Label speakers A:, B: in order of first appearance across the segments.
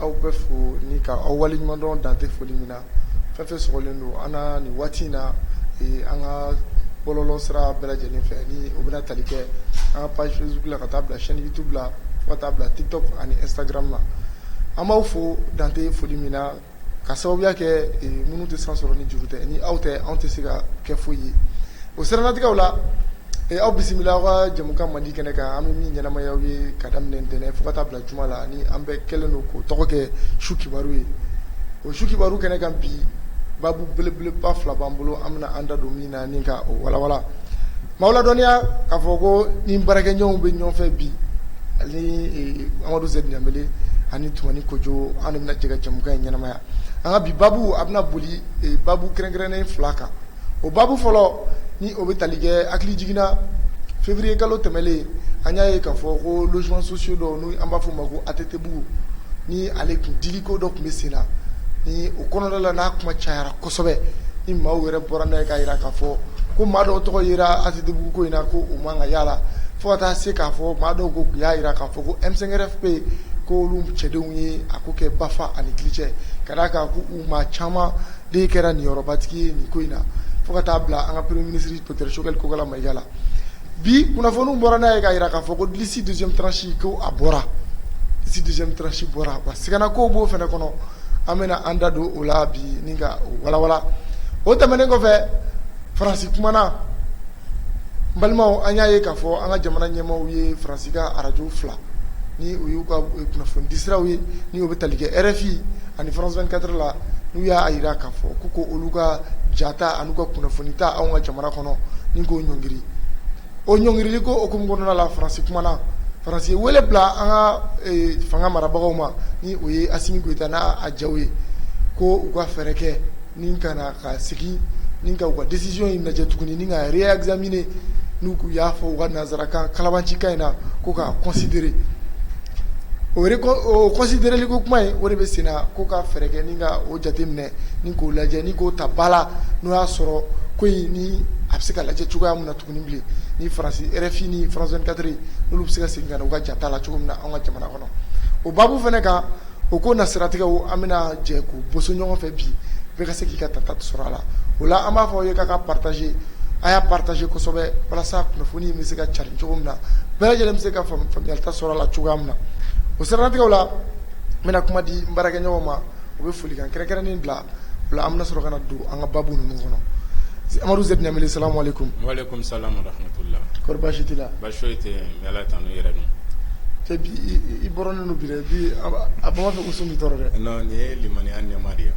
A: Aw bɛɛ fo ni ka aw waleɲumandɔn dante foli min na fɛn fɛn sɔgɔlen don an na nin waati in na an ka bɔlɔlɔ sira bɛɛ lajɛlen fɛ ni o bɛ tali kɛ an ka page Facebook la ka taa bila chaîne YouTube la ka taa bila TikTok ani Instagram la an b'aw fo dante foli min na ka sababuya kɛ minnu tɛ san sɔrɔ ni juru tɛ ni aw tɛ anw tɛ se ka kɛ foyi ye o siranatigɛ la aw bisimila aw ka jamukan mandi kɛnɛ kan an bɛ min ɲɛnamaya aw ye ka daminɛ ntɛnɛn fo ka taa bila juma la ni an bɛɛ kɛlen don k'o tɔgɔ kɛ su kibaru ye o su kibaru kɛnɛ kan bi babu belebeleba fila b'an bolo an bɛna an da don min na ni ka o walawala maaw ladɔnniya k'a fɔ ko ni baarakɛɲɔgɔnw bɛ ɲɔgɔn fɛ bi ani amadu zɛdi danbele ani tumani kojo an de bɛna jɛ ka jamukan in ɲɛnamaya an ka bi babu a bɛna boli babu kɛrɛnkɛrɛnnen fila kan o babu fɔlɔ ni o bɛ tali kɛ hakili jiginna février kalo tɛmɛlen an y'a ye k'a fɔ ko logements sociaux dɔ n' an b'a fɔ o ma ko ATTbugu ni ale tun dili ko dɔ tun bɛ sen na ni o kɔnɔna la n'a kuma cayara kosɛbɛ ni maaw yɛrɛ bɔra n'a ye k'a jira k'a fɔ ko maa dɔw tɔgɔ yera ATTbugu ko in na ko u man ka y'a la fo ka taa se k'a fɔ maa dɔw ko y'a jira k'a fɔ ko M5RFP ko olu cɛdenw ye a ko kɛ bafa ani kili cɛ ka d'a kan u maa caman de kɛra niyɔrɔbatigi ye nin ko in na fo ka taa bila an ka premier ministre docteur Choguel Kokala Mayiga la bi kunnafoniw bɔra n'a ye k'a jira k'a fɔ ko liste deuxième tranche ko a bɔra liste deuxième tranche bɔra wa siganakow b'o fana kɔnɔ an bɛna an da don o la bi ni ka o walawala o tɛmɛnen kɔfɛ faransi kumana n balimaw an y'a ye k'a fɔ an ka jamana ɲɛmaaw ye faransi ka arajo fila ni o y'u ka kunnafonidisiraw ye ni o bɛ tali kɛ RFI ani France 24 la n'u y'a jira k'a fɔ ko ko olu ka jata ani u ka kunnafoni ta anw ka jamana kɔnɔ ni k'o ɲɔngiri o ɲɔngirili ko o hukumu kɔnɔna la faransi kumana faransi ye wele bila an ka fanga marabagaw ma ni o ye asimi goyita n'a jaw ye ko u ka fɛɛrɛ kɛ ni ka na ka segin ni ka u ka disisiyɔn in lajɛ tuguni ni ka reɛkizamine n'u k'u y'a fɔ u ka nanzarakan kalabancikan in na ko k'a kɔnsidere o o kɔnsidereli ko kuma in o de bɛ sen na ko ka fɛɛrɛ kɛ ni ka o jateminɛ ni k'o lajɛ ni k'o ta ba la n'o y'a sɔrɔ ko in ni a bɛ se ka lajɛ cogoya min na tuguni bilen ni faransi RFI ni France 24 n'olu bɛ se ka segin ka na u ka jata la cogo min na an ka jamana kɔnɔ o babu fana kan O ko na siratigɛ an bɛna jɛ k'u boso ɲɔgɔn fɛ bi bɛɛ ka se k'i ka ta ta sɔrɔ a la o la an b'a fɔ aw ye k'aw k'a pataze a y'a pataze kosɛbɛ walasa kunnafoni bɛ se ka carin cogo min na bɛɛ lajɛlen bɛ se ka faamuta sɔrɔ a la cogoya min na o siranatigɛ la n bɛna kuma di n baarakɛɲɔgɔn ma u bɛ folikan kɛrɛnkɛrɛnnen bila o la an bɛ sɔrɔ ka don an ka babu ninnu kɔnɔ amadu zɛdi danbele
B: sa
A: So tɛ
B: ala tanu yɛrɛ don
A: i bɔrɔnen don bi dɛ bi a b'a fɛ ko sun b'i tɔɔrɔ dɛ non nin ye limaniya
B: nɛɛma de ye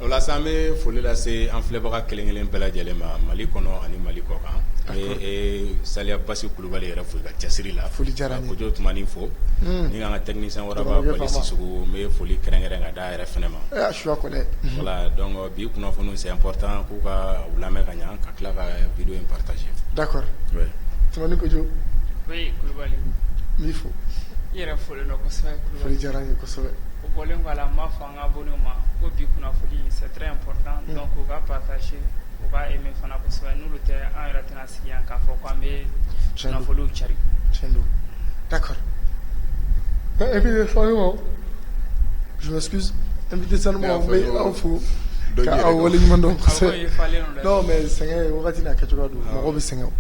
B: o la sa an bɛ foli lase an filɛbaga kelen kelen bɛɛ lajɛlen ma mali kɔnɔ ani mali kɔ kan saliya basi kulubali yɛrɛ fo i ka cɛsiri la foli diyara n ye kojo
A: tumani
B: fo ni k'an ka technicien waraba bali sisɔkɔ n bɛ foli kɛrɛnkɛrɛn ka d'a yɛrɛ fana ma su
A: dɔn
B: Bi kunnafoniw c'est important k'u ka u lamɛn ka ɲɛ ka tila ka video in partager d'accord
A: Tumani
B: Kojo
A: Oui Kulubali
C: n b'i fo
A: i yɛrɛ folen
C: don kosɛbɛ Kulubali foli diyara n ye
A: kosɛbɛ o bɔlen kɔ a la n
C: b'a fɔ an ka abonnéw ma ko bi kunnafoni c'est très important donc u ka partager u ka aimer fana kosɛbɛ n'olu tɛ an yɛrɛ tɛna Yan k'a fɔ ko an bɛ kunnafoniw cari tiɲɛ
A: don d'accord invité sanumanw je m'excuse invité sanumanw n bɛ aw fo k'aw waleɲuman dɔn kosɛbɛ non mais sɛgɛn ye wagati n'a kɛcogoya don mɔgɔw bɛ sɛgɛn o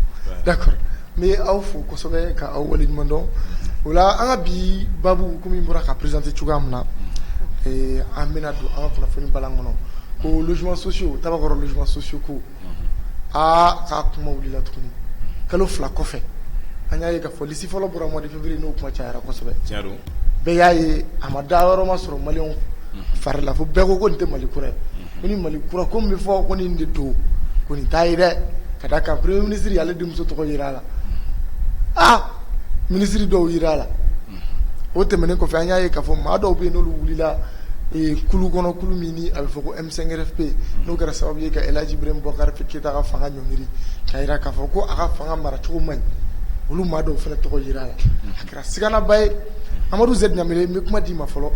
A: d'accord n bɛ aw fo kosɛbɛ k'aw waleɲuman dɔn o la an ka bi baabu komi n bɔra k'a présenter cogoya min na an bɛna don an ka kunnafoni bulon kɔnɔ ko logements sociaux Tabakɔrɔ logements sociaux ko aa k'a kuma wulila tuguni kalo fila kɔfɛ an y'a ye k'a fɔ lisi fɔlɔ bɔra mois de février n'o kuma cayara kosɛbɛ bɛɛ y'a ye a ma da yɔrɔ ma sɔrɔ maliyɛnw fari la fo bɛɛ ko ko nin tɛ mali kura ye ko ni mali kura ko min bɛ fɔ ko nin de don ko nin t'a ye dɛ ka d'a kan premier minisiri ale denmuso tɔgɔ yera a la aa minisiri dɔw yera a la o tɛmɛnen kɔfɛ an y'a ye k'a fɔ maa dɔw bɛ yen n'olu wulila kulu kɔnɔ kulu min a bɛ fɔ ko Sɛgɛrɛ pe n'o kɛra sababu ye ka ji bɔkari keyita ka fanga ɲɔn miiri ka jira k'a fɔ ko a ka fanga mara cogo man ɲi olu maa dɔw fana tɔgɔ jira a la a kɛra siganaba ye amadu z ɲa n bɛ kuma d'i ma fɔlɔ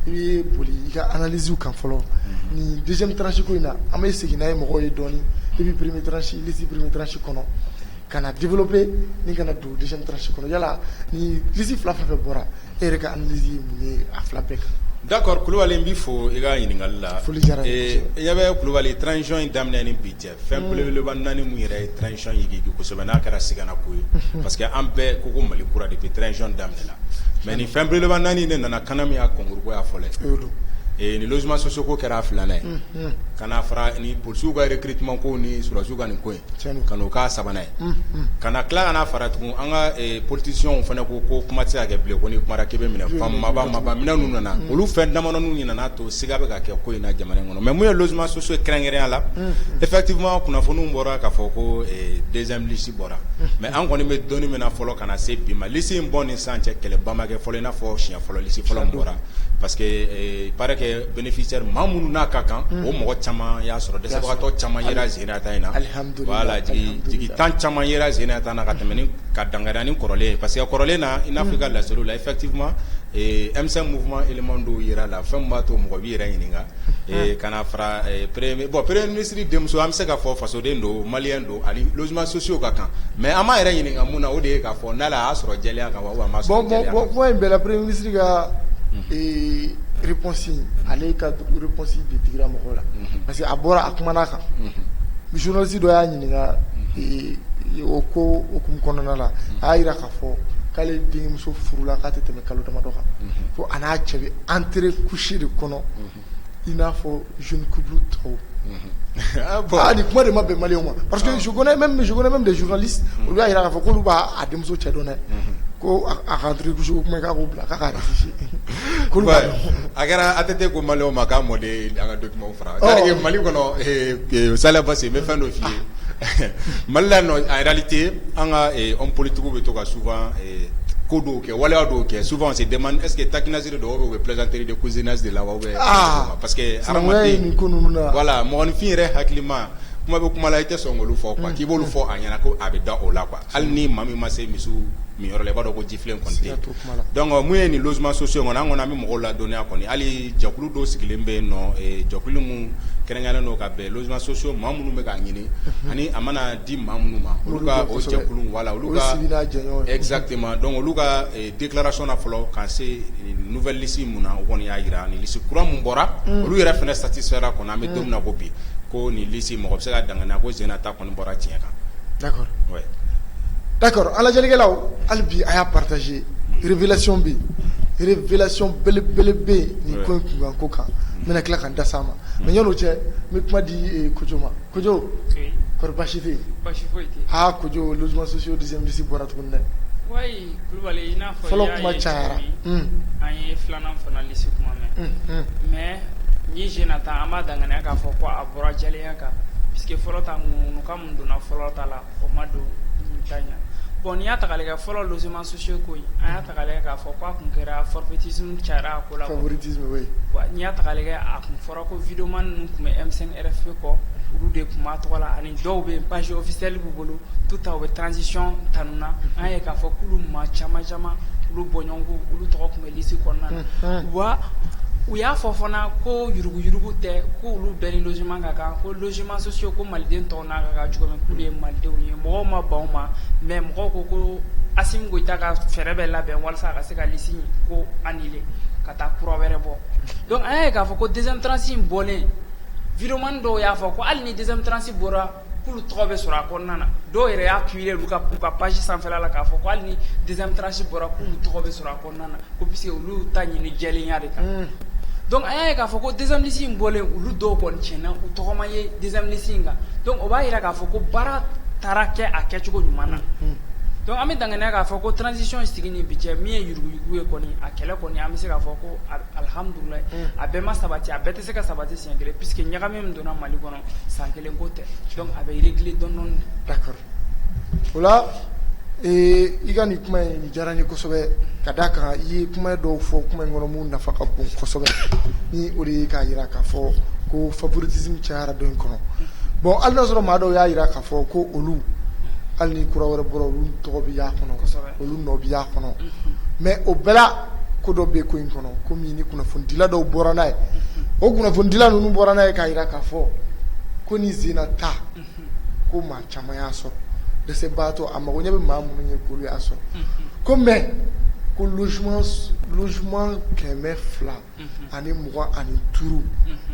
A: i bɛ boli i ka alazw kan fɔlɔ ni dɛsɛseko in na an bɛ segin n'a ye mɔgɔw ye dɔn i bɛ peremesilisi peremetirasi kɔnɔ ka na dibibe ni kana na dugu dɛsɛsi kɔnɔ yalasi fila fɛ bɔra E yɛrɛ ka analyse ye mun ye a fila bɛɛ kan? d'accord Kulubali n
B: b'i fo i ka ɲininkali la, foli diyara n ye kosɛbɛ, ee
A: i ɲɛ bɛ
B: Kulubali transition in daminɛ ni bi cɛ fɛn belebeleba naani min yɛrɛ ye transition yigiyigi kosɛbɛ n'a kɛra sigana ko ye, unhun, parce que an bɛɛ ko ko Mali kura depuis transition daminɛ la mais nin fɛn belebeleba naani de nana CANAM ya concours ko y'a fɔlɔ ye, o don, ee ni logement sociaux ko kɛra a filanan ye, unhun, ka na fara ni polisiw ka recrutement ko ni sɔrɔdasiw ka nin ko in ka n'o k'a sabanan ye ka na tila ka na fara tugun an ka politicienw fana ko ko kuma tɛ se ka kɛ bilen ko n'i kumara k'i bɛ minɛ maaba minɛ ninnu nana olu fɛn damadɔ nana to siga bɛ ka kɛ ko in na jamana kɔnɔ mais mun ye logement sociaux kɛrɛnkɛrɛnya la effectivement kunnafoniw bɔra k'a fɔ ko deuxième lisi bɔra mais an kɔni bɛ dɔnni min na fɔlɔ ka na se bi ma lisi in bɔ ni sisan cɛ kɛlɛba ma kɛ fɔlɔ i n'a fɔ siɲɛ fɔlɔ lisi fɔlɔ bɔra parce que il paraît que bénéficiaire minnu n'a ka kan o mɔgɔ caman y'a sɔrɔ dɛsɛbagatɔ caman tan caman ye sen tan na ka tɛmɛ ka dangad ni kɔrɔlen parce que kɔrɔlen na i n'a fɔ ka layi la i fati minnu don jira la fɛn b'a to mɔgɔ bɛ yɛrɛ ɲininka ka fara pere bɔn pere minisiriri denmuso an bɛ se ka fɔ fasoden don mali don ani ma sosiw ka kan mɛ an ma yɛrɛ ɲininka min na o de ka fɔ n' y'a sɔrɔ jeliya kan wa in bɛɛlapre minisiri
A: ka réponse ale ka réponse de digira mɔgɔw la parce que a bɔra a kuma kan journaliste dɔ y'a ɲininka o ko hukumu kɔnɔna la a y'a jira k'a fɔ k'ale denmuso furula k'a tɛ tɛmɛ kalo damadɔ kan ko a n'a cɛ bɛ entrée couché de kɔnɔ i n'a fɔ jeune couple tɔw bon nin kuma de ma bɛn maliyɛnw ma parce que je connais même des journalistes olu y'a jira k'a fɔ k'olu b'a denmuso cɛ dɔn dɛ ko a ka entrée couché ko kuma k'a k'o bila k'a'
B: kulubali a kɛra ATT ko maliyɛnw ma k'a mɔden an ka du fara mali kɔnɔ sa n bɛ fɛn dɔ f'i ye mali la en réalité an ka hommes politiques bɛ to ka souvent ko dɔw kɛ waleya dɔw kɛ souvent on se demande est-ce que taquinerie dɔw bɛ plaisanterie de cousinage de la wa parce que hadamaden voilà mɔgɔninfin yɛrɛ hakilima kuma bɛ kuma la i tɛ sɔn k'olu fɔ quoi k'i b'olu fɔ a ɲɛna ko a bɛ da o la hali ni maa min ma se misi minyɔrɔ la i b'a dɔn ko min ye nin logements sociaux kɔni an kɔni an bɛ mɔgɔw ladɔnniya kɔni hali jɛkulu dɔ sigilen bɛ yen nɔ jɛkulu minnu kɛrɛnkɛrɛnnen don ka bɛn logements sociaux maa minnu bɛ k'a ɲini ani a mana di maa minnu ma olu ka o jɛkulu voilà olu ka sigida jɛɲɔgɔn ye exactement donc olu ka déclaration na fɔlɔ ka se nouvelle liste minnu na u kɔni y'a jira ani liste kura minnu bɔra olu yɛrɛ fana satisfaits ra kɔni an bɛ don min na i ko bi ko nin liste mɔgɔ bɛ se k'a danganiya ko sen na ta kɔni bɔra tiɲɛ kan
A: d'accord
B: oui
A: d'accord an lajɛlikɛlaw hali bi a y'a partager révélation bɛ yen révélation belebele bɛ yen nin ko in kunkan ko kan n bɛna tila ka n da s'a ma mais yan'o cɛ n bɛ kuma di Kojo ma Kojo kɔri baasi tɛ yen baasi foyi tɛ yen
C: aa Kojo logements
A: sociaux deuxième liste bɔra tuguni dɛ wayi
C: Kulubali i n'a fɔ fɔlɔ kuma cayara
A: un an ye
C: filanan fana liste kuma mɛn un un mais nin sen na ta an b'a danganiya k'a fɔ ko a Bɔra jɛlenya kan puisque fɔlɔ ta ŋunukan min donna fɔlɔ ta la o ma don nin ta in na bon n'i y'a ta k'a lajɛ fɔlɔ logements sociaux ko in an y'a ta k'a lajɛ k'a fɔ k'a tun kɛra favoritisme cayara a ko la favoritisme oui wa
A: n'i y'a ta k'a
C: lajɛ a tun fɔra ko videoman ninnu tun bɛ M5 RFP kɔ olu de tun b'a tɔgɔ la ani dɔw bɛ yen page officielle b'u bolo tout temps u bɛ transition tanu na an y'a ye k'a fɔ k'olu maa caman caman olu bɔɲɔgɔnko olu tɔgɔ tun bɛ liste kɔnɔna na, unhun, wa u y'a fɔ fana ko yuruguyurugu tɛ k'olu bɛɛ ni logement ka kan ko logements sociaux ko maliden tɔw n'a ka kan cogo min k'olu ye malidenw ye mɔgɔw ma ban o ma mais mɔgɔw ko ko Asimi Goyita ka fɛɛrɛ bɛ labɛn walasa a ka se ka liste in ko annuler ka taa kura wɛrɛ bɔ donc an y'a ye k'a fɔ ko deuxième tranche in bɔlen videoman dɔw y'a fɔ ko hali ni deuxième tranche bɔra k'olu tɔgɔ bɛ sɔrɔ a kɔnɔna na dɔw yɛrɛ y'a publier olu ka k'u ka page sanfɛla la k'a fɔ ko hali ni deuxième tranche bɔra k'olu tɔgɔ bɛ sɔrɔ a kɔnɔna na ko puisque olu y'u ta ɲini jɛlenya de kan unhun donc an y'a ye k'a fɔ ko deuxième liste in bɔlen olu dɔw kɔni tiɲɛna u tɔgɔ ma ye deuxième liste in kan donc o b'a jira k'a fɔ ko baara taara kɛ a kɛcogo ɲuman na unhun donc an bɛ danganiya k'a fɔ ko transition sigi ni bi cɛ min ye yuruguyurugu ye kɔni a kɛlɛ kɔni an bɛ se k'a fɔ ko al- alhamdulilayi a bɛɛ ma sabati a bɛɛ tɛ se ka sabati siɲɛ kelen puisque ɲagami min donna Mali kɔnɔ San kelen ko
A: tɛ a
C: bɛ régler dɔɔni dɔɔni d'accord o
A: la i ka nin kuma in diyara n ye kosɛbɛ ka d'a kan i ye kuma dɔw fɔ kuma in kɔnɔ min nafa ka bon kosɛbɛ ni o de ye k'a jira k'a fɔ ko favoritisme cayara don in kɔnɔ bon hali n'a sɔrɔ maa dɔw y'a jira k'a fɔ ko olu hali ni kura wɛrɛ bɔra olu tɔgɔ bɛ y'a kɔnɔ Olu nɔ bɛ y'a kɔnɔ mais o bɛɛ la ko dɔ bɛ ko in kɔnɔ komi ni kunnafonidila dɔw bɔra n'a ye o kunnafonidila ninnu bɔra n'a ye k'a jira k'a fɔ ko ni zina ta ko maa caman y'a sɔrɔ dɛsɛbaatɔ a mago ɲɛ bɛ maa minnu ye k'olu y'a sɔrɔ ko mais ko logement logement kɛmɛ fila ani mugan ani duuru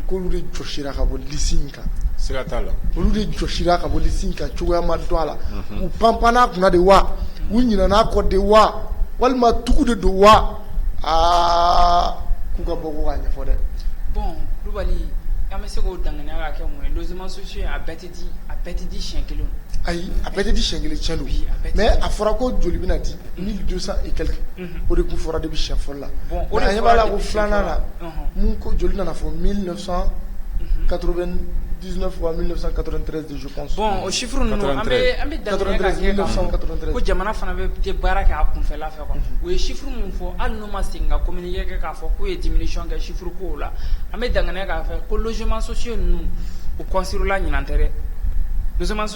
A: k'olu de jɔsira ka bɔ liste in kan siga t'a la
B: olu de
A: jɔsira ka bɔ liste in kan cogoya ma dɔn a la u panpann'a kunna de wa u ɲinan'a kɔ de wa walima tugu de don wa aa k'u ka bɔ ko k'a ɲɛfɔ dɛ bon
C: Kulubali an bɛ se k'o danganiya ka kɛ mun ye logements sociaux a bɛɛ tɛ di a bɛɛ tɛ di siɲɛ kelen ayi a bɛɛ tɛ di
A: siɲɛ kelen tiɲɛ don mais a fɔra ko joli bɛna di mille deux cents et quelques o de tun fɔra de bɛ shɛ fɔlɔ la a b'a la ko filanan la ko joli nana fɔ mi ka di bɔn o sif an
C: ko jamana fana bɛ tɛ baara kɛ a kunfɛla fɛ u ye sif min fɔ hali n'u ma segin ka kɔmi kɛ k'a fɔ k'u ye dimi nisɔn kɛ sif ko la an bɛ dan k'a fɛ ko zmansosi ninnu u kɔsila ɲin tɛ dɛ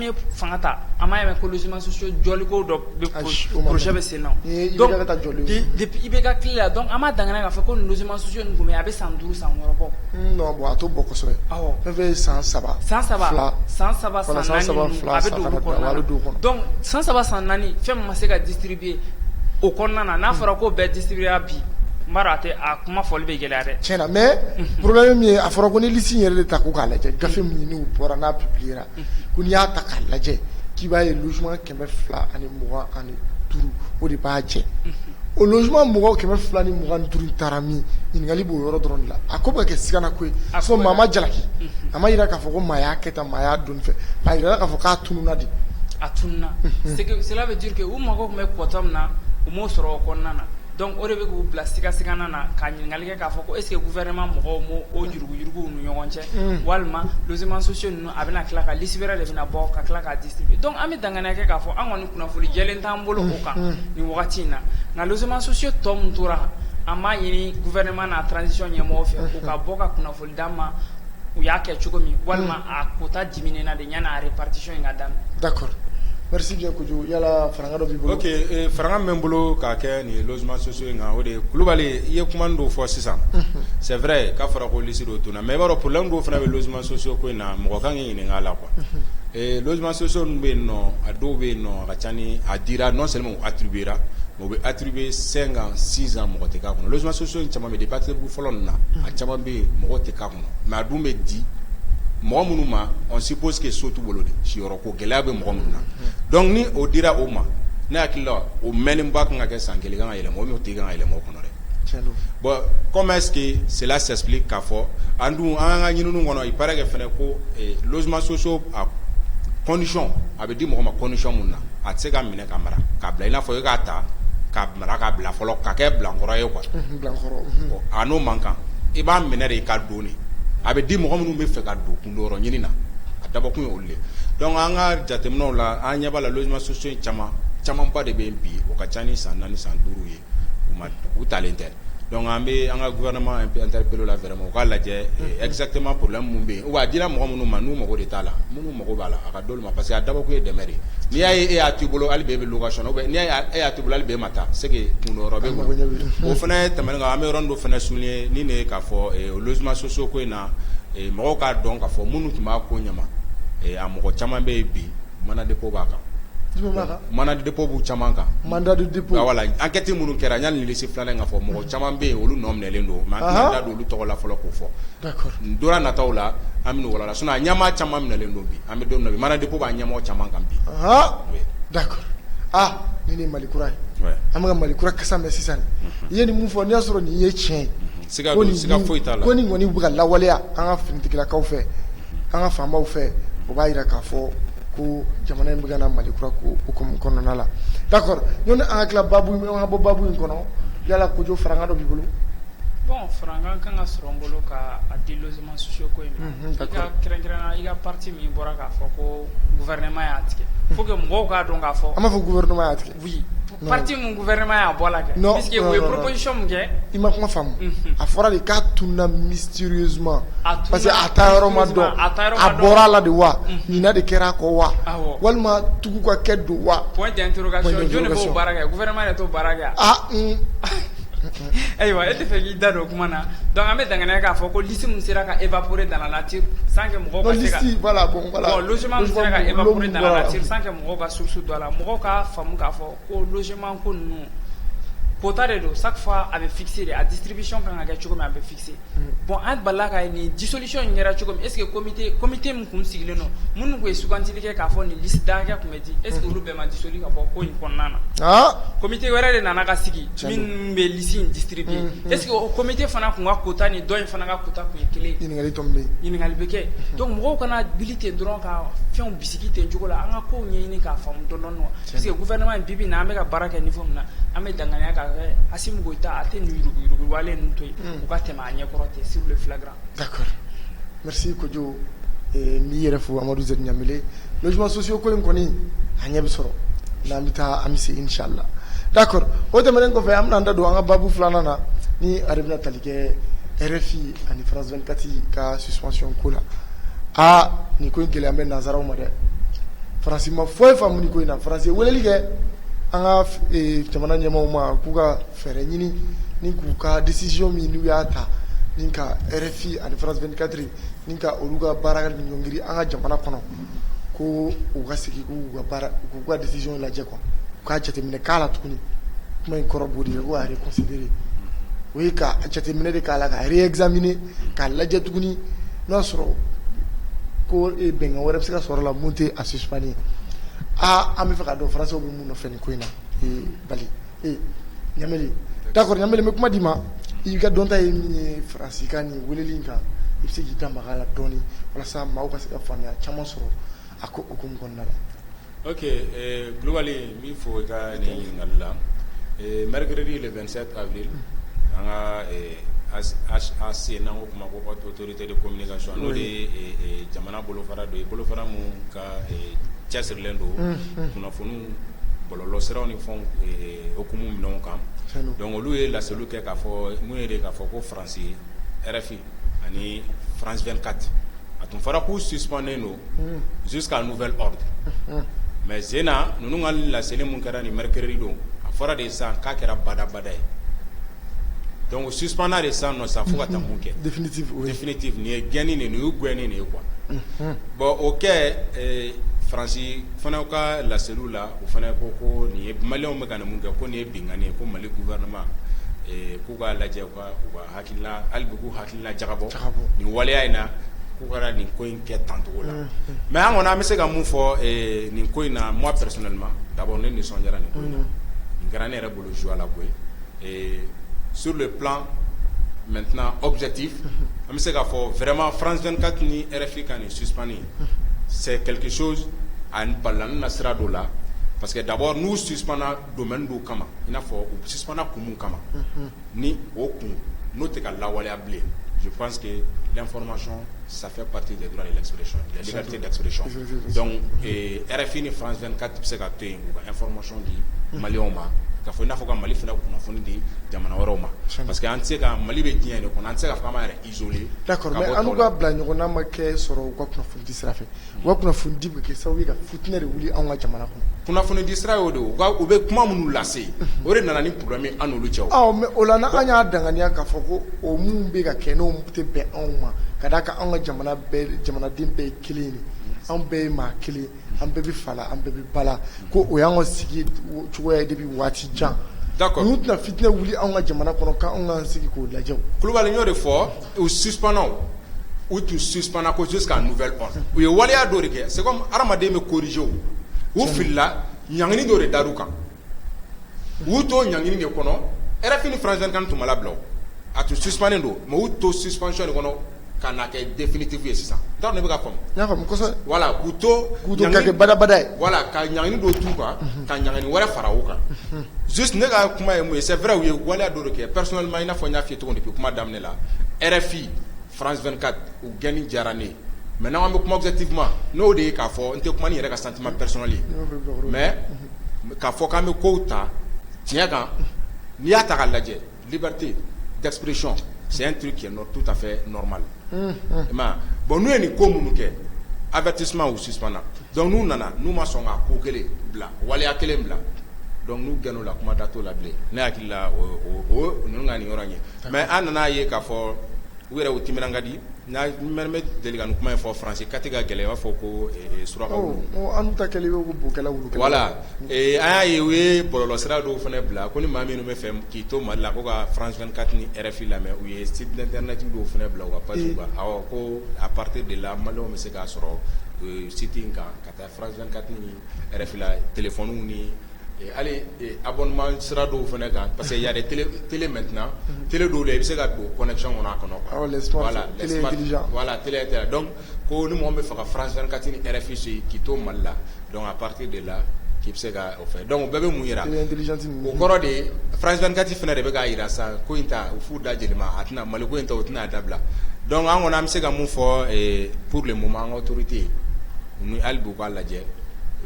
C: ye fanga ta an m'a ye mɛn ko logements sociaux jɔliko dɔ bɛ projet bɛ senna donc depuis IBK tile la donc an b'a danganiya k'a fɔ ko nin logements sociaux ninnu tun bɛ yen a bɛ san duuru san wɔɔrɔ bɔ non bon a t'o bɔ
A: kosɛbɛ awɔ fɛn fɛn ye san
C: saba
A: san saba fila
C: san saba san naani ninnu a bɛ don olu kɔnɔna na donc san saba san naani fɛn min ma se ka distribuer o kɔnɔna na n'a fɔra k'o bɛɛ distribuer la bi n b'a dɔn a tɛ a kuma fɔli bɛ gɛlɛya dɛ tiɲɛ na mais
A: problème ye min ye a fɔra ko ni liste in yɛrɛ de ta ko k'a lajɛ gafe min n'u bɔra n'a publier ra ko n'i y'a ta k'a lajɛ k'i b'a ye logement 200 ani mugan ani duuru o de b'a jɛ o logement mɔgɔ 200 ni mugan ni duuru in taara min ɲininkali b'o yɔrɔ dɔrɔn de la a ko bɛ ka kɛ sigana ko ye sinon maa ma jalaki a ma jira k'a fɔ ko maa y'a kɛ tan maa y'a don fɛ a jirala k'a fɔ k'a tununa de a
C: tununa c'est que cela veut dire que u mago tun bɛ quota min na u m'o sɔrɔ o kɔnɔna na donc o de bɛ k'u bila siga-sigana na ka ɲininkali kɛ k'a fɔ ko est-ce que gouvernement mɔgɔw ma o yuruguyurugu u ni ɲɔgɔn cɛ walima logements sociaux ninnu a bɛna tila ka liste wɛrɛ de bɛna bɔ ka tila k'a distribuer donc an bɛ danganiya kɛ k'a fɔ an kɔni kunnafoni jɛlen t'an bolo o kan nin wagati in na nka logements sociaux tɔ min tora an b'a ɲini gouvernement n'a transition ɲɛmɔgɔw fɛ u ka bɔ ka kunnafoni d'a ma u y'a kɛ cogo min walima hmm. a kota dimina na de ɲɛ n'a yɛrɛ patisi in ka da da kɔrɔsijɛ
A: kojugu yala fanga b'i bolo e, fanga bɛ n
B: bolo k'a kɛ nin losima soso in kan o de kulubali i ye kuma dɔw fɔ sisan hmm. sɛɛrɛ ye k'a fɔra ko lisi don tun na mɛ i b'a dɔn pla dɔw fana bɛ losima soso ko in na mɔgɔ kan kɛ ɲininka la kuwa hmm. e, losima soso bɛ yen nɔ a dɔw bɛ yen nɔ a ka ca ni a dira nɔ sɛmɛ a tibira o bɛ attribuer cinq ans six ans mɔgɔ tɛ k'a kɔnɔ logements sociaux in caman bɛ yen depuis attribuer fɔlɔ ninnu na a caman bɛ yen mɔgɔ tɛ k'a kɔnɔ mais a dun bɛ di mɔgɔ minnu ma on suppose que so t'u bolo de siyɔrɔ ko gɛlɛya bɛ mɔgɔ minnu na donc ni o dira o ma ne hakili la o mɛnnenba kan ka kɛ san kelen i ka kan ka yɛlɛma o n'o tigi ka kan ka yɛlɛma o kɔnɔ dɛ Jalo bon comment est-ce que cela s'explique k'a fɔ an dun an ka ɲininiw kɔnɔ il paraît que fana ko logements sociaux a conditions a bɛ di mɔgɔ ma condition min na a tɛ se ka minɛ ka mara ka bila i n'a fɔ e k'a ta ka mara ka bila fɔlɔ ka kɛ bilankɔrɔ ye quoi a n'o man kan i b'a minɛ de i ka don a bɛ di mɔgɔ minnu bɛ fɛ ka don kundonyɔrɔ ɲinina a dabɔkun ye olu de donc an ka jateminɛw la an ɲɛ b'a la logements sociaux in caman camanba de bɛ bi o ka ca ni san naani san duuru ye u talen tɛ dɔnku an bɛ an ka gma an bolo la fɛɛrɛ ma u k'a lajɛ ɛzsatɛma pla minnu bɛ yen wa a dira mɔgɔ minnu ma n'u mago de t'a la minnu mago b'a la a ka don ma parce que a dabo ye dɛ de n'i y'a e y'a to i bolo ale bɛ bɛ ka sɔn n' e y'a to bolo ale bɛ ma taa se kun o fana ye tɛmɛ kan an bɛ yɔrɔ don fana sun ye ni de k'a fɔ oluuma soso ko in na mɔgɔw k'a dɔn ka fɔ minnu tun b'a ko ɲɛ a mɔgɔ caman bɛ yen bi mana de ko b'a kan Mandat de dépôt b'u caman kan mandat de
A: dépôt enquête
B: minnu kɛra yanni liste filanan ka fɔ mɔgɔ caman bɛ yen olu nɔ minɛlen don mais an tɛna da don olu tɔgɔ la fɔlɔ k'o fɔ d'accord don
A: nataw la
B: an bɛ n'o walawala sinon a ɲɛmaa caman minɛlen don bi an bɛ don min na mandat de dépôt b'a ɲɛmɔgɔ caman kan bi d'accord aa ni nin
A: mali kura ye an bɛ ka mali kura kasa mɛn sisan i ye nin min fɔ n'i y'a sɔrɔ nin ye tiɲɛ ye siga foyi
B: t'a la ko nin kɔni bɛ ka lawaleya
A: an ka kiritigɛlakaw fɛ An ka faamaw fɛ o b'a jira k'a fɔ ko jamana in bɛ ka na Mali kura ko kɔnɔna la d'accord yanni an ka tila babu an ka bɔ babu in kɔnɔ yala Kojo farankan dɔ b'i bolo
C: bon farankan kan ka sɔrɔ n bolo ka di logements sociaux ko in kan kɛrɛnkɛrɛnna i ka partie min bɔra k'a fɔ ko gouvernement y'a tigɛ faut que mɔgɔw k'a dɔn k'a fɔ an b'a fɔ gouvernement y'a tigɛ
A: wuli pati mun
C: g wɛrɛma y'a bɔ la kɛsɔn min kɛ i ma kuma faamu
A: a fɔra de k'a tunda misitiririzuma zuma parce que a taa yɔrɔ ma dɔn a bɔra a la de wa ɲin de kɛra a kɔ wa walima tugu ka kɛ don wa
C: ayiwa e tɛ fɛ k'i da don o kuma na dɔnku an bɛ danɛrɛ k'a fɔ ko lisi min sera ka epure da la san mɔgɔ mɔgɔ ka source dɔn a la mɔgɔ ka faamu k'a fɔ ko logement ko ninnu quota de don chaque fois a bɛ fixer de a distribution ka kan ka kɛ cogo min a bɛ fixer bon an balila ka ye nin dissolution in kɛra cogo min est ce que comité comité min tun sigilen don minnu tun ye sugantili kɛ k'a fɔ nin liste da hakɛ tun bɛ di est ce que olu bɛɛ ma dissolu ka bɔ ko in kɔnɔna na comité wɛrɛ de nana ka sigi minnu bɛ liste in distribuer est ce que o comité fana tun ka quota ni dɔ in fana ka quota tun ye kelen ye ɲininkali bɛ kɛ donc mɔgɔw kana wuli ten dɔrɔn ka fɛnw sigi ten cogo la an ka ko ɲɛɲini k'a faamu dɔɔnin parce que gouvernement bi bi na an bɛ ka baara kɛ niveau min na an bɛ danganiya k'a kɛ Asimi Goyita a tɛ nin yurugu yurugu wale ninnu to yen u ka tɛmɛ a ɲɛ kɔrɔ ten sur le flagrant d'accord
A: merci Kojo ee n b'i yɛrɛ fo Amadu Z Ɲamele logements sociaux ko in kɔni a ɲɛ bɛ sɔrɔ n'an bɛ taa an bɛ se inchallah d'accord o tɛmɛnen kɔfɛ an bɛna an da don an ka babu filanan na ni a yɛrɛ bɛna tali kɛ RFI ani France 24 ka suspension ko la aa nin ko in gɛlɛya bɛ nanzaraw ma dɛ faransi ma foyi faamu nin ko in na faransi ye weleli kɛ an ka eh, jamana ɲɛmaaw ma k'u ka fɛɛrɛ ɲini ni k'u ka décision min n'u y'a ta ni ka RFI ani France 24 ni ka olu ka baara ɲɔngiri an ka jamana kɔnɔ ko u ka segin k'u ka baara k'u ka décision lajɛ quoi u k'a jateminɛ k'a la tuguni kuma in kɔrɔ b'o de ye ko a reconsidérer o ye ka jateminɛ de k'a la ka réexaminer k'a lajɛ tuguni n'o y'a sɔrɔ ko bɛnkan wɛrɛ bɛ se ka sɔrɔ la min tɛ a suspension ye aa an bɛ fɛ ka dɔn faransiw bɛ mun nɔfɛ nin ko in na Bali Ɲamele d'accord Ɲamele n bɛ kuma d'i ma i ka dɔnta ye min ye faransi ka nin weleli in kan i bɛ se k'i da maga a la dɔɔnin walasa maaw ka se ka faamuya caman sɔrɔ a ko o ko kɔnɔna la
B: Ok Kulubali n b'i fo i ka nin ɲininkali la ee mercredi le 27 avril an ka HAC n'an k'o ma ko haute autorité de communication n'o de ye jamana bolofara dɔ ye bolofara min ka cɛsirilen don kunnafoniw bɔlɔlɔsiraw ni fɛnw hukumu minɛnw kan donc olu ye laseliw kɛ k'a fɔ mun ye de k'a fɔ ko Faransi RFI ani France 24 a tun fɔra k'u suspendnen don jusqu'à nouvel ordre mais zena ninnu ka laseli min kɛra nin mercredi don a fɔra de sisan k'a kɛra badabada ye donc suspendra de sisan nɔ sisan fo ka taa kɛ définitif nin ye gɛnni nin u gɛn nin ye quoi bon o kɛ Faransi fana ka laseliw la o fana ko ko nin ye maliyɛnw bɛ ka mun kɛ ko nin ye binkanni ye ko Mali gouvernement k'u k'a lajɛ k'u ka hakilibugu hakilila jabɔ nin waleya in na k'u kɛra nin ko in kɛ tancogo la mɛ an kɔnɔ an bɛ se ka mun fɔ nin ko in na mɔ pɛres ma da ne nisɔn diyara nin ko in na nin kɛra ne yɛrɛ bolo zuwa la koyi sur de pan mɛ tɛna awbisɛti an bɛ se k'a fɔ vma franzɛnkati ni rfin ka nin sususan ye sɛkikisɛso ani bala na sira dɔ la parce que dabɔ n'u sususaumana don don kama in n'a fɔ u sususaumana kun kama ni o kun n'o tɛ ka lawaleya bilen je pense que l'information ça fait partie des droits de l'expression la liberté d'expression donc RFI ni France 24 bɛ se ka to yen k'u ka information di maliyɛnw ma k'a fɔ i n'a fɔ ka Mali fana kunnafoni di jamana wɛrɛw ma parce que an tɛ se ka Mali bɛ diɲɛ de kɔnɔ an tɛ se k'a fɔ k'an b'an yɛrɛ isoler d'accord mais an n'u ka bila ɲɔgɔnna ma kɛ sɔrɔ u ka kunnafonidi sira fɛ U ka kunnafonidi bɛ ka kɛ sababu ye ka fitinɛ de wuli anw ka jamana kɔnɔ kunnafoni di sira o de u bɛ kuma minnu lase o de nana ni problème ye an n'olu cɛ mais o la an y'a danganiya k'a fɔ ko o min bɛ ka kɛ n'o tɛ bɛn anw ma ka d'a kan anw ka jamana jamanaden bɛɛ ye kelen de anw bɛɛ ye maa kelen an bɛɛ bɛ fa la an bɛɛ bɛ ba la ko o y'an ka sigi cogoya ye depuis waati jan d'accord n'u tɛna fitinɛ wuli anw ka jamana kɔnɔ k'anw ka sigi k'o lajɛ Kulubali n y'o de fɔ u sup u tun susp ko jus k' n fɛ u ye waleya dɔ de kɛ se hadamaden bɛ korizw u filila ɲg dɔ de da u kan u to ɲg de kɔnɔ ɛ fanazkan tun bila a tun sunen don ma u to suspy de kɔnɔ ka na kɛ denfitigiw ye sisan da bɛ ka wala
A: k'u to
B: kɛbada
A: wala ka ɲg don
B: tu kan ka ɲg wɛrɛ fara u kan su ne ka kuma ye ye sɛ wɛrɛw ye waleya dɔ kɛ pres ma in n'a fɔ n y'a ye cogo di kuma daminɛ RFI France 24 u gɛnni diyara ne ye mais n'an k'an bɛ kuma objectivement n'o de ye k'a fɔ n tɛ kuma n'i yɛrɛ ka sentiment personnel ye mais k'a fɔ k'an bɛ kow ta tiɲɛ kan n'i y'a ta k'a lajɛ liberté d'expression c'est un truc qui est tout à fait normal i m'a ye bon n'u ye nin ko minnu kɛ avertissement u suspendna donc n'u nana n'u ma sɔn ka ko kelen bila waleya kelen bila donc n'u gɛnna o la kuma da t'o la bilen ne hakili la o o o ninnu ka nin yɔrɔ in ye mais an nana a ye k'a fɔ u yɛrɛ u timinan ka di n bɛ deli ka nin kuma in fɔ faransi kati ka gɛlɛn i b'a fɔ ko suraka wulu an ta
A: voilà
B: an y'a ye u ye bɔlɔlɔ sira dɔw fana bila ko ni maa minnu bɛ fɛ k'i to mali la ko ka France 24 ni RFI lamɛn u ye site internet dɔw fana bila u ka page kan awɔ ko à partir de là maliyɛnw bɛ se k'a sɔrɔ site in kan ka taa France 24 ni RFI la téléphone ni hali abonnement sira dɔw fana kan parce que il y a des télé télé maintenant mhm. télé dɔw la i bɛ se ka don connexion kɔnɔ a kɔnɔ quoi. Awɔ les smart voilà, télé
A: intelligent voilà télé intelligent donc
B: ko ni mɔgɔ min bɛ fɛ ka France 24 ni RFI suit k'i to Mali la donc à partir de là k'i bɛ se ka o fɛ donc o bɛɛ bɛ mun yira. Télé intelligent ninnu. O kɔrɔ de ye France 24 fana de bɛ k'a yira sisan ko in ta u f'u da yɛlɛma a tɛna Mali ko in ta u tɛna a dabila donc an kɔni an bɛ se ka mun fɔ pour le moment an ka autorité Ninnu hali bi u k'a lajɛ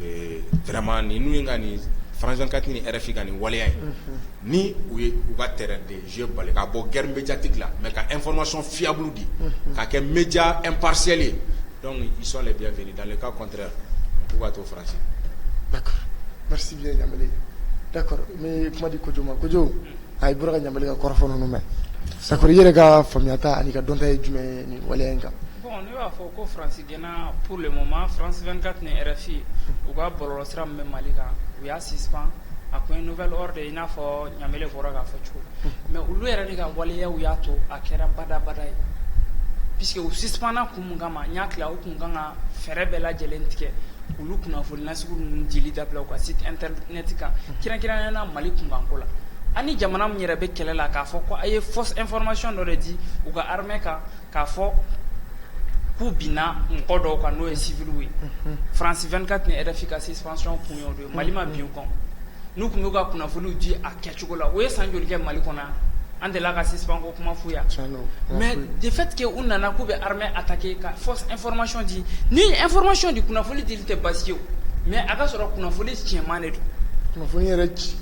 B: ee vraiment ni ninnu ye ka nin France 24 ni RFI ka nin waleya in, unhun, ni u ye u ka terrain de jeu bali ka bɔ guerre médiatique la mais ka information fiable di, unhun, ka kɛ média impartial ye donc ils sont les bienvenus dans le cas contraire u k'u ka to France
A: d'accord merci bien Ɲambele d'accord n bɛ kuma di Kojo ma Kojo a i bɔra ka Ɲambele ka kɔrɔfɔ ninnu mɛn d'accord i yɛrɛ ka faamuyata an'i ka dɔnta ye jumɛn ye nin waleya in kan Ne b'a fɔ
C: ko faransi gɛnna pour le moment France 24 ni RFI u ka bɔlɔlɔ sira bɛ mali kan u y'a suspend jusqu'à nouvel ordre i n'a fɔ Ɲambele bɔra k'a fɔ cogo mais olu yɛrɛ de ka waleyaw y'a to a kɛra badabada ye puisque u suspendna kun min kama ma n y'a tila u tun kan ka fɛɛrɛ bɛɛ lajɛlen tigɛ olu kunnafoni nasugu ninnu dili dabila u ka site internet kan kɛrɛnkɛrɛnnenya mali kunkanko la ani jamana min yɛrɛ bɛ kɛlɛ la k'a fɔ ko a ye fausse information dɔ de di u ka armée kan k'a fɔ k'u binna mɔgɔ dɔw kan n'o ye civilw ye France 24 ni RFI ka suspension kun y'o de ye mali ma bin u kan n'u tun b'u ka kunnafoniw di a kɛcogo la u ye san joli kɛ mali kɔnɔ an delila ka suspend ko kuma fɔ yan mais de fait que u nana k'u bɛ armée attaquer ka fausse information di ni information di kunnafoni dili tɛ basi ye mais a ka sɔrɔ kunnafoni tiɲɛman de don kunnafoni yɛrɛ ci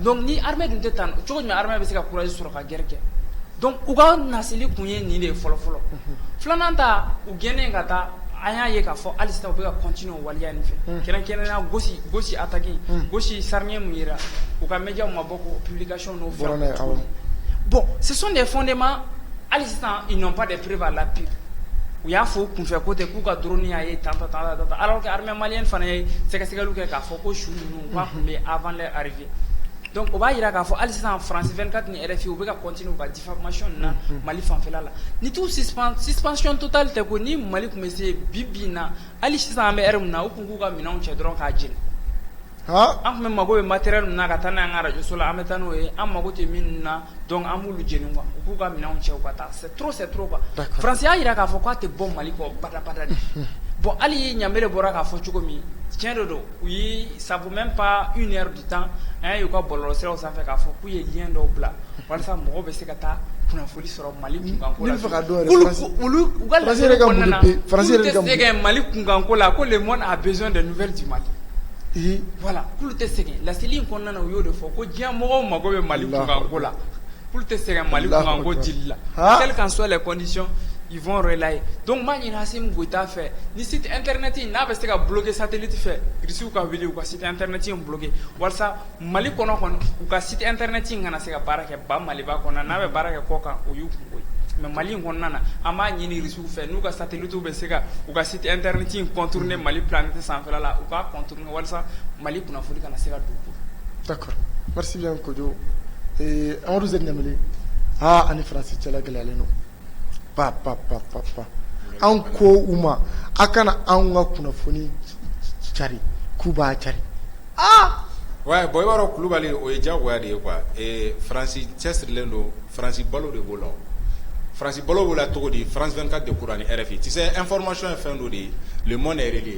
C: donc
A: ni armée dun tɛ tanu
C: cogo jumɛn armée bɛ se ka courage sɔrɔ ka guerre kɛ donc u ka nasili kun ye nin de ye fɔlɔ fɔlɔ filanan ta u gɛnnen ka taa an y'a ye k'a fɔ hali sisan u bɛ ka continuer o waleya nin fɛ kɛrɛnkɛrɛnnenya Gossi Gossi attaque Gossi charnier min yera u ka médiaw ma bɔ k'o publication n'o fɛnw kɛ bon ce sont des fondements hali sisan ils n'ont pas de preuves à l'appui u y'a fɔ u kunfɛ ko tɛ k'u ka drone y'a ye tan tan tan alors que armée malienne fana ye sɛgɛsɛgɛliw kɛ k'a fɔ ko su ninnu K'a tun bɛ avant leur arrivée donc o b'a jira k'a fɔ hali sisan France 24 ni RFI u bɛ ka continuer u ka diffamation na mali fanfɛla la ni t'u suspension totale tɛ kɔni mali tun bɛ se bi bi in na hali sisan an bɛ heure min na u tun k'u ka minɛnw cɛ dɔrɔn k'a jeni an tun bɛ mago bɛ matériel min na ka taa n'an ka arajo la an bɛ taa n'o ye an mago tɛ min na donc an b'olu jeni quoi u k'u ka minɛnw cɛ ka taa c'est trop quoi France y'a jira k'a fɔ k'a tɛ bɔ mali kɔ badabada de bon hali Ɲamele bɔra k'a fɔ cogo min tiɲɛ de don u ye ça vaut même pas une heure du temps an y'a ye u ka bɔlɔlɔsiraw sanfɛ k'a fɔ k'u ye lien dɔw bila walasa mɔgɔw bɛ se ka taa kunnafoni sɔrɔ Mali kunkanko la, ne bɛ fɛ k'a dɔn yɛrɛ France yɛrɛ ka mun de bɛ, France yɛrɛ bɛ ka mun de, k'olu tɛ sɛgɛn Mali kunkanko la ko le monde a besoin de nouvelles du Mali voilà k'olu tɛ sɛgɛn laseli in kɔnɔna na u y'o de fɔ ko diɲɛ mɔgɔw mago bɛ Mali kunkanko la Olu tɛ sɛgɛn Mali kunkanko dili la, han, quelles qu'en soient les conditions ils vont relayer donc n b'a ɲini Asimi Goyita fɛ ni site internet in n'a bɛ se ka bloquer satellite fɛ Russie ka wuli u ka site internet in bloquer walasa Mali kɔnɔ kɔni u ka site internet in kana se ka baara kɛ ba Maliba kɔnɔ yan n'a bɛ baara kɛ kɔkan o y'u kunko ye mais Mali in kɔnɔna na an b'a ɲini Russie fɛ n'u ka satellite bɛ se ka u ka site internet in contourner Mali planète sanfɛla la u k'a contourner walasa mali kunnafoni kana se ka don d'accord
A: merci bien Kojo Amadu Z Ɲamele aa an ni faransi cɛla gɛlɛyalen don pa pa pa pa pa an ko u ma aw kana an ka kunnafoni cari k'u b'a cari
B: aa ouais bon i b'a dɔn kulubali o ye diyagoya de ye quoi faransi cɛsirilen don faransi balo de b'o la faransi balo b'o la cogo di France 24 de kɔrɔ ani RFI tu sais information ye fɛn dɔ de ye le monde yɛrɛ de ye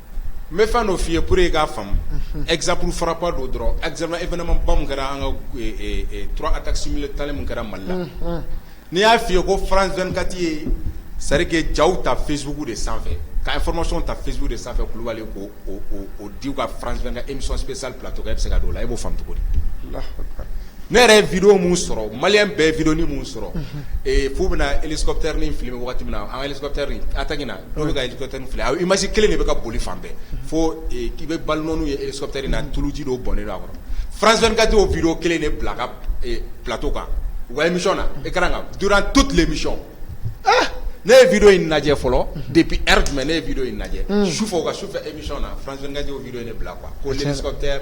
B: n bɛ fɛn dɔ f'i ye pour que i k'a faamu exemple frappant dɔ dɔrɔn exemple événement ba min kɛra an ka trois attaques simultanées min kɛra Mali la n'i y'a f'i ye ko France 24 ye c'est à dire que jaw ta Facebook de sanfɛ ka information ta Facebook de sanfɛ Kulibali k'o di u ka France 24 émission spéciale plateau kan e bɛ se ka don o la e b'o faamu cogo di? Alahu akbar ne yɛrɛ ye vidéo min sɔrɔ malien bɛɛ ye vidéo nin min sɔrɔ f'u bɛna hélicoptère nin filmer wagati min na an ka hélicoptère nin attaque in na Dɔw bɛ ka hélicoptère filmer image kelen de bɛ ka boli fan bɛɛ fo k'i bɛ balle nɔ ninnu ye hélicoptère na tuluji dɔ bɔnnen don a kɔnɔ France 24 y'o vidéo kelen de bila a ka plateau kan u ka émission na écran kan durant toute l'émission ne ye vidéo in lajɛ fɔlɔ depuis heure jumɛn ne ye vidéo in lajɛ sufɛ u ka sufɛ émission na France 24 y'o vidéo in de bila quoi ko l'hélicoptère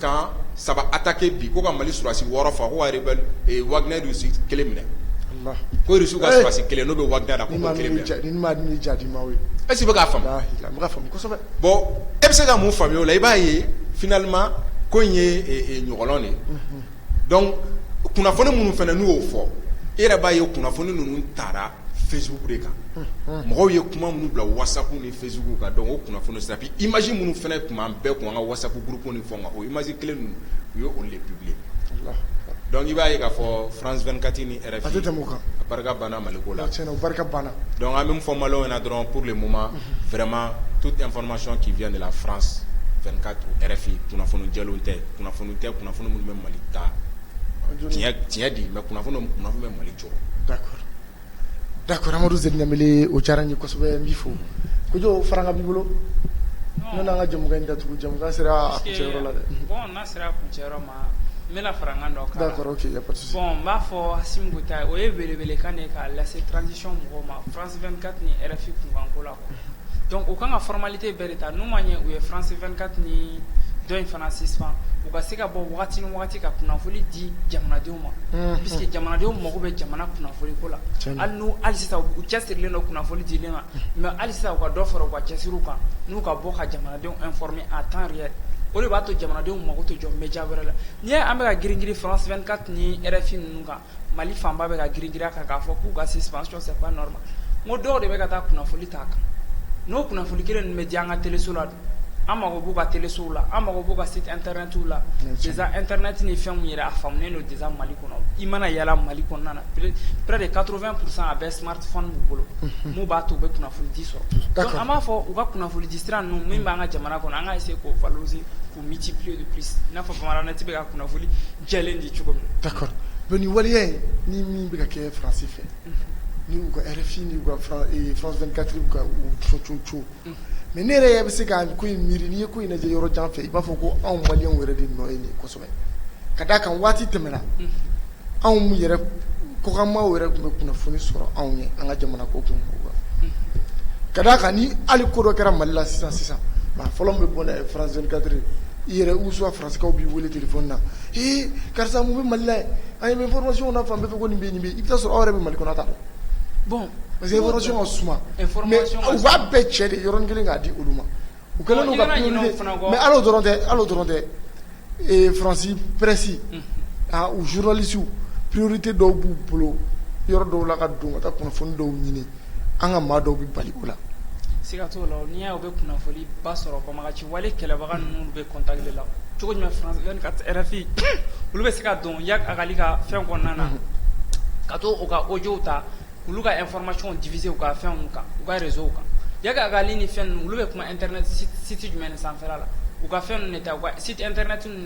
B: camp saba attaqué bi ko ka mali surasi wɔɔrɔ faa ko ka rebelle Wagner Russie kelen minɛ ko Russie ka surasi kelen n'o bɛ Wagner la
A: ko est-ce que i bɛ k'a faamu bon e bɛ se
B: ka mun faamuya o la i b'a ye finalement ko in ye ɲɔgɔlɔn de donc kunnafoni minnu fana n'u y'o fɔ e yɛrɛ b'a ye kunnafoni ninnu taara Facebook de kan mɔgɔw ye kuma minnu bila WhatsApp ni Facebook kan donc o kunnafoni sira image minnu fana tun b'an bɛɛ kun an ka WhatsApp groupe ni fɛnw kan o image kelen ninnu u ye olu de publier donc i b'a ye k'a fɔ France 24 ni RFI ka barika banna mali ko la barika
A: banna donc an bɛ min fɔ
B: maliyɛnw ɲɛ na dɔrɔn pour le moment vraiment toute information qui vient de la France 24 RFI kunnafoni jɛlenw tɛ kunnafoni tɛ kunnafoni minnu bɛ mali ta tiɲɛ di mais kunnafoni bɛ mali
A: Da kɔrɔmadu z ɲae o diyara ye kosɛbɛ n bɛ fɔ ko jɔ fara ka b'i bolo n ka jamu in da tugu jamu sera la dɛ n
C: bɛna fara dɔn ka bɔn
A: b'a fɔ
C: o yeeleele kan ka lase transic mɔgɔw ma fran ka tun yɛrɛfin kunko la Donc u kan ka formalité bɛɛ de ta n'u ma ɲɛ u ye France 24 ni dɔ in fana suspend u ka se ka bɔ waati ni waati ka kunnafoni di jamanadenw ma parce que jamanadenw mago bɛ jamana kunnafoni ko la hali sisan u cɛsirilen don kunnafoni di ma mais hali sisan u ka dɔ fara u ka cɛsiriw kan n'u ka bɔ ka jamanadenw informer en temps réel o de b'a to jamanadenw mako tɛ jɔ média wɛrɛ la n'i ye an bɛ ka girin-girin France 24 ni RFI ninnu kan Mali fanba bɛ ka girin a kan k'a fɔ k'u ka suspension c'est pas normal ko dɔw de bɛ ka taa kunnafoni ta a kan n'o kunnafoni kelen ninnu bɛ di an ka teleso la an mako b'u ka telesow la an mako b'u ka site internet la déjà internet ni fɛn min yɛrɛ a faamunen don déjà mali kɔnɔ i mana yala mali kɔnɔna na près de quatre-vingts pourcent a bɛ smartphone b'u bolo min b'a to u bɛ kunnafonidi sɔrɔ an b'a fɔ u ka kunnafonidi sira ninnu min b'an ka jamana kɔnɔ an ka essayer k'o valoriser k'u multiplier de plus i n'a fɔ Bamanan net bɛ ka kunnafoni jɛlen di cogo min na, d'accord donc nin waleya
A: in ni min bɛ ka kɛ France fɛ ni u ka RFI ni u ka France 24 u ka u cococo mais ne yɛrɛ bɛ se ka ko in miiri n'i ye ko in lajɛ yɔrɔ jan fɛ i b'a fɔ ko anw maliyɛnw yɛrɛ de nɔ ye nin ye kosɛbɛ ka d'a kan waati tɛmɛna anw yɛrɛ kɔkanmaw yɛrɛ tun bɛ kunnafoni sɔrɔ anw ye an ka jamana ko kun ka d'a kan ni hali ko dɔ kɛra Mali la sisan sisan maa fɔlɔ min bɛ bɔ n'a ye France 24 i yɛrɛ ou soit Kaw b'i weele téléphone na karisa mun bɛ mali la an ye information na fan bɛɛ fɛ ko nin bɛ nin bɛ i bɛ t'a sɔrɔ aw yɛrɛ bɛ mali kɔnɔ aw t'a dɔn bon
C: parce que
A: information ka suma mais u b'a bɛɛ cɛ de yɔrɔ kelen k'a di olu ma u kɛlen don mais hal'o dɔrɔn tɛ hal'o dɔrɔn tɛ faransi presse u journalistew priorité dɔw b'u bolo yɔrɔ dɔw la ka don ka taa kunnafoni dɔw ɲini an ka maa dɔw bɛ bali o la siga t'o
C: la n'i y'a ye u bɛ kunnafoni ba sɔrɔ banbaganci wale kɛlɛbaga ninnu bɛ contact de la cogo jumɛn France 24 RFI olu bɛ se ka don Iyad Ag Ghali ka fɛn kɔnɔna na ka to u ka audio ta k'olu ka information diffuser u ka fɛnw kan u ka réseau kan Iyad Ag Ghali ni fɛn ninnu olu bɛ kuma internet site jumɛn de sanfɛla la u ka fɛn ninnu de ta u ka site internet ninnu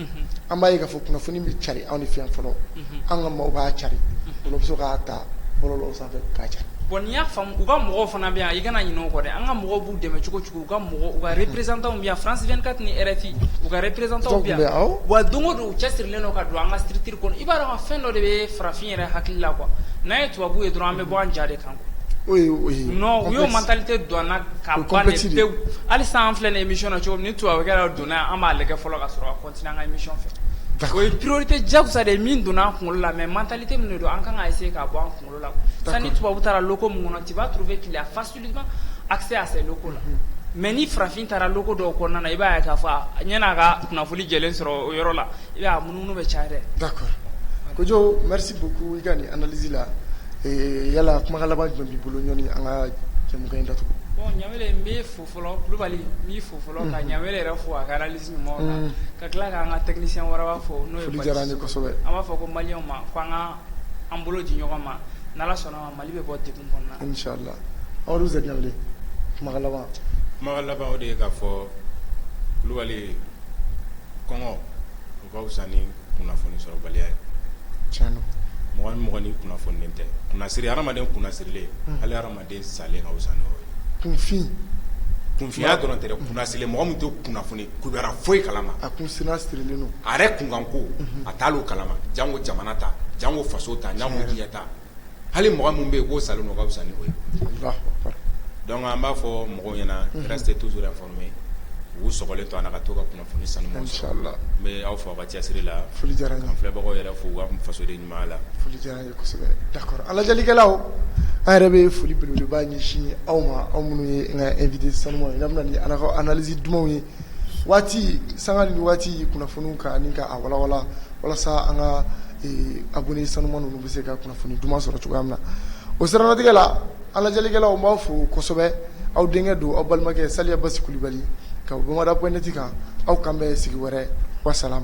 A: An b'a ye k'a fɔ kunnafoni bɛ cari anw de fɛ yan fɔlɔ an ka mɔgɔw b'a cari olu bɛ se k'a ta bɔlɔlɔw sanfɛ k'a cari bon n'i y'a faamu u ka
C: mɔgɔw fana bɛ yan i kana ɲinɛ o kɔ dɛ an ka mɔgɔw b'u dɛmɛ cogo cogo u ka représentants bɛ yan France 24 ni RFI u ka représentants bɛ yan wa don o don u cɛsirilen don ka don an ka structure kɔnɔ i b'a dɔn fɛn dɔ de bɛ farafin yɛrɛ hakili la quoi n'an ye tubabu ye dɔrɔn an bɛ bɔ an ja de kan u y'o mentalité don an na ka ban de pewu hali sisan an filɛ nin émission na cogo min ni tubabu kɛra An b'a lajɛ fɔlɔ ka sɔrɔ cotise fɛ o ye porote jasa de ye min donna an kunkolo la mɛ mantali tɛ min don an kan ka ese ka bɔ an kunkolo la tan ni tubabu taara ko mun kɔnɔ ciba tun bɛ ki a fa seli a se a se loko la mɛ ni farafin taara loko dɔw kɔnɔna na i b'a ka faa a ɲɛna a ka kunnafonili jɛ sɔrɔ o yɔrɔ la i mununu bɛ ca da
A: ko jo buku i ka nin anz la yala kumakala jɔn' bolo ɲɔgɔn an ka cɛ in da tugun
C: Fɔlɔ kulubali b'i fo fɔlɔ ka ɲa yɛrɛ fo a kɛra ka tila k'an ka tɛmɛsiyɛn wɛrɛ fɔ n'o ye diyara an b'a
A: fɔ ko mali ma
C: ko an ka an bolo di ɲɔgɔn ma n sɔnna mali bɛ bɔ de kɔnɔ
A: aw laban de ye ka fɔ
B: kulubali kɔngɔ u fisa ni kunnafoni sɔrɔbaliya ye
A: mɔgɔ mɔgɔɔgɔn
B: kunnafoni tɛ kunnasiri ha adamadamaden kunnasirilen hali den salen ka fisa n'o ye, kunfin, kunfinya dɔrɔn tɛ dɛ, kunnasirilen, mɔgɔ min tɛ kunnafoni kibaruya fosi kalama, a kun sina sirilen
A: don, a yɛrɛ kunkanko,
B: unhun, a t'olu kalama jango jamana ta jango faso ta jango diɲɛ ta hali mɔgɔ min bɛ yen k'o salen don o ka fisa ni o ye, alahu akbar, donc an b'a fɔ mɔgɔw ɲɛna, unhun, restez toujours informés u sɔgɔlen to an na ka to ka kunnafoni sanumanw sɔrɔ, inchallah, n bɛ aw fo aw ka cɛsiri la, foli diyara n ye, ka n filɛbagaw
A: yɛrɛ fo u ka
B: fasoden ɲumanya la, foli diyara n ye.
A: An lajɛlikɛlaw an yɛrɛ bɛ foli belebeleba ɲɛsin aw ma aw minnu ye n ka invité sanumanw ye n'aw bɛ na ni aw ka analyse dumanw ye waati sanga ni waati kunnafoniw kan ni k'a walawala walasa an ka abonné sanuman ninnu bɛ se ka kunnafoni duman sɔrɔ cogoya min na o siratigɛ la an lajɛlikɛlaw n b'aw fo kosɛbɛ aw denkɛ don aw balimakɛ Saliya Basi Kulubali ka bɔ Bamada.net kan aw k'an bɛn sigi wɛrɛ wassalam